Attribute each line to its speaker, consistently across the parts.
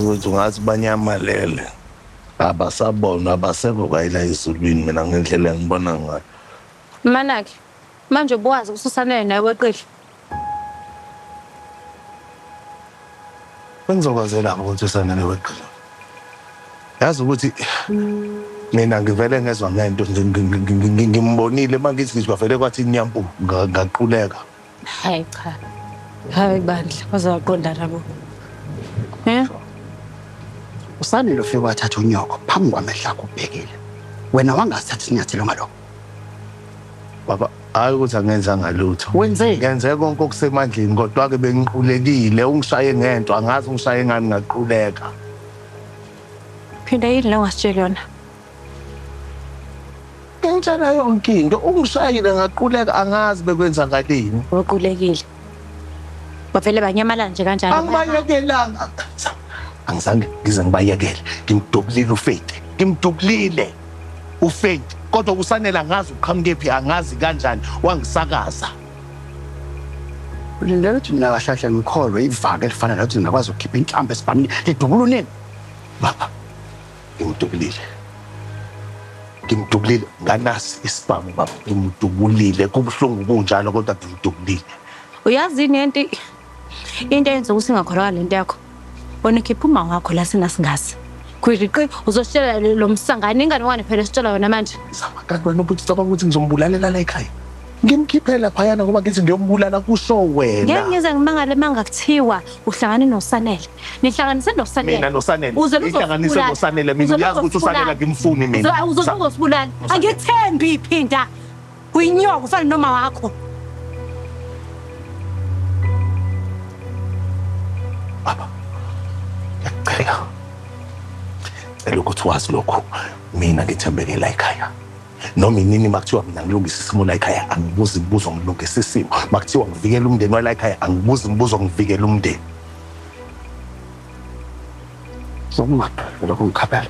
Speaker 1: Mfowethu ngathi banyamalele abasabonwa abasekho kwayila ezulwini mina ngendlela engibona ngayo. Manaki,
Speaker 2: manje ubuwazi kususanele naye weqile.
Speaker 1: Bengizokwazela ukuthi usanele weqile. Yazi ukuthi mina ngivele ngezwa ngento nje ngi- ngi- ngi- ngi- ngimbonile mangithi ngizwa vele kwathi inyampu nga- ngaquleka. Hayi
Speaker 2: cha. Hayi bandla baze waqondana bo.
Speaker 3: Eh? Usanele ufike wathatha unyoko phambi kwamehlo akho ubhekile. Wena wangasithatha isinyathelo ngalokho.
Speaker 1: Baba, hayi ukuthi angenzanga lutho. Wenzeni? Ngenze konke okusemandleni kodwa-ke bengiqulekile. Ungishaye ngento, angazi ungishaye ngani ngaquleka.
Speaker 2: Phinda yini le ongasitsheli yona?
Speaker 1: Ngitshela yonke into ungishayile ngaquleka angazi bekwenzakaleni. Uqulekile.
Speaker 2: Bavele banyamalala nje kanjalo. Angibayekelanga.
Speaker 1: Angizange ngize ngibayekele. Ngimdubulile uFethi. Ngimdubulile uFethi. Kodwa kusanele angazi uqhamuke phi angazi kanjani wangisakaza.
Speaker 3: Ulindele ukuthi mina kahlahla ngikholwe ivaka elifana nokuthi ngingakwazi ukukhipha inhlamba esibhamini lidubula unini. Baba,
Speaker 1: ngimdubulile ngimdubulile nganasi isibhamu baba ngimdubulile kubuhlungu kunjalo kodwa ngimdubulile uyazi yini
Speaker 2: enti into eyenza ukuthi ingakholakala lento yakho wena ukhipha uma wakho la sina singazi khwiriqi uzositshela lo msangane ingane wane phela esitshela wena manje zama kanti wena ubuthi
Speaker 1: cabanga ukuthi ngizombulalela la ekhaya Ngimkhiphe laphayana ngoba ngithi ngiyombulala kusho Ngeke wena. ngize ngimangale
Speaker 2: manga kuthiwa uhlangane noSanele. Nihlanganise Mina noSanele. noSanele. Uze
Speaker 1: Ihlanganise uzosibulala. noSanele mina Uze uyazi ukuthi uSanele uzosibulala. akimfuni mina. Uzo- Uzoze Sa- uzosibulala.
Speaker 2: Angikuthembi iphinda. Uyinyoka ufana noma wakho.
Speaker 1: Baba. Ngiyacela. Cela ukuthi wazi lokhu. Mina ngithembeke la ekhaya. noma inini makuthiwa mina ngilungisa isimo la ekhaya angibuzi imibuzo ngilungisa isimo makuthiwa ngivikela umndeni wala ekhaya angibuzi imibuzo ngivikela umndeni
Speaker 3: sokumadoda lokho ngikhabela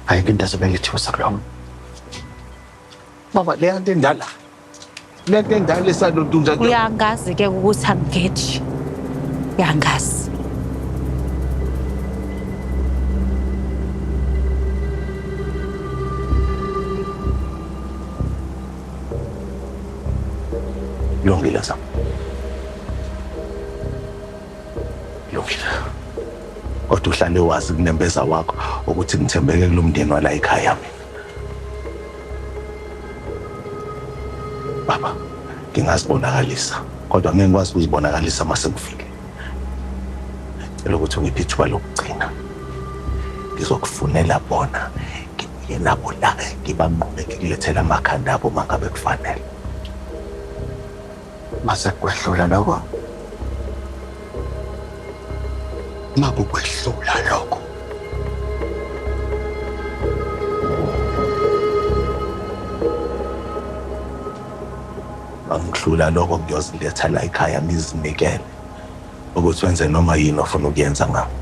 Speaker 3: ayike into ezobe ngithiwe sakulona
Speaker 1: baba leya nto endala lento endala esalontunja uyangazi ke ukuthi
Speaker 2: angigeji uyangazi
Speaker 1: Lungile zam. Lungile. Kodwa uhlale wazi kunembeza wakho ukuthi ngithembeke kulomndeni wala ekhaya mina. Baba, ngingazibonakalisa kodwa ngeke ngikwazi ukuzibonakalisa uma sekufike. Cela ukuthi ungiphe ithuba lokugcina. Ngizokufunela bona ngibuye nabo la ngibanqobe ngikulethela amakhanda abo uma ngabe kufanele.
Speaker 3: Mase kwehlula lokho. Makukwehlula lokho.
Speaker 1: Angihlula lokho ngiyoziletha la ekhaya ngizinikele ukuthi wenze noma yini ofuna ukuyenza ngami.